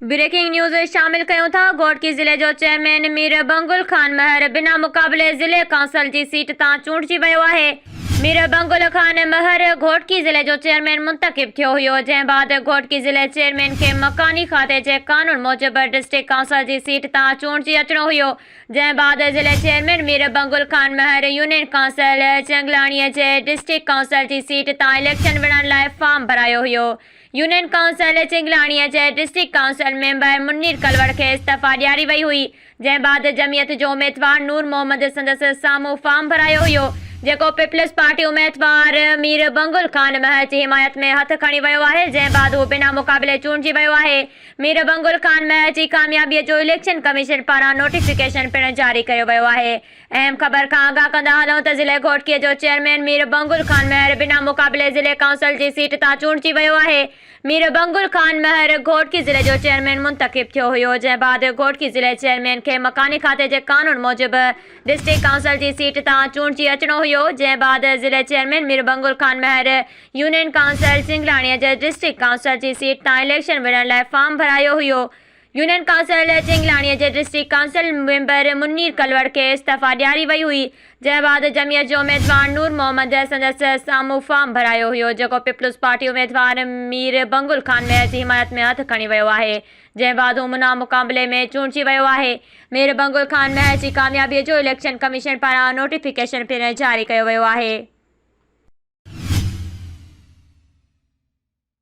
Breaking news شامل ڪيون ٿا گهوٽڪي ضلعي جو چيئرمين مير بنگل خان مهر بنا مقابلي ضلعي ڪائونسل جي سيٽ تان چونڊجي ويو آهي مير بنگل خان مهر گهوٽڪي ضلعي جو چيئرمين منتخب ٿيو هيو جنهن بعد گهوٽڪي ضلعي چيئرمين کي مڪاني کاتي جي قانون موجب ڊسٽرڪٽ ڪائونسل جي سيٽ تان چونڊجي اچڻو هيو جنهن بعد ضلعي chairman Mir Bangal Khan Mahar union council Changlani جي ڊسٽرڪٽ ڪائونسل جي سيٽ تان اليڪشن وڙهڻ لاء فارم ڀرايو هيو يونين ڪائونسل چنگلاڻيء جي district council member Munir Kalor کي استعفيٰ ڏياري وئي هئي، جنهن بعد جمعيت جو اميدوار نور محمد سندس سامهون فارم ڀرايو هيو، جيڪو پيپلز پارٽي اميدوار مير بنگل خان مهر جي حمايت ۾ هٿ کڻي ويو آهي، جنهن بعد هو بنا مقابلي چونڊجي ويو آهي. مير بنگل خان مهر جي ڪاميابيء جو اليڪشن ڪميشن پاران نوٽيفڪيشن پڻ جاري ڪيو ويو آهي. اهم خبر کان آگاهه ڪندا هلون ته ضلعي گهوٽڪي جو چيئرمين مير بنگل خان مهر بنا مقابلي ضلعي ڪائونسل جي سيٽ تان چونڊجي ويو آهي. مير بنگل خان مهر گهوٽڪي ضلعي جو چيئرمين منتخب ٿيو هيو جنهن بعد گهوٽڪي ضلعي چيئرمين کي مڪاني کاتي جي قانون موجب ڊسٽرڪٽ ڪائونسل جي سيٽ تان چونڊجي اچڻو هيو جنهن بعد ضلعي chairman Mir Bangal Khan Mahar union council Sanglani جي ڊسٽرڪٽ ڪائونسل جي سيٽ تان اليڪشن وڙهڻ لاء فارم ڀرايو هيو يونين ڪائونسلر چنگلاڻي جي district council member Munir Kalor کي استعفيٰ ڏياري وئي هئي، جنهن بعد جمعيت جو اميدوار نور محمد سندس سامهون فارم ڀرايو هيو، جيڪو پيپلز پارٽي اميدوار مير بنگل خان مهر جي حمايت ۾ هٿ کڻي ويو آهي، جنهن بعد هو منان مقابلي ۾ چونڊجي ويو آهي. مير بنگل خان مهر جي ڪاميابي جو اليڪشن ڪميشن پاران نوٽيفڪيشن پڻ جاري ڪيو ويو آهي.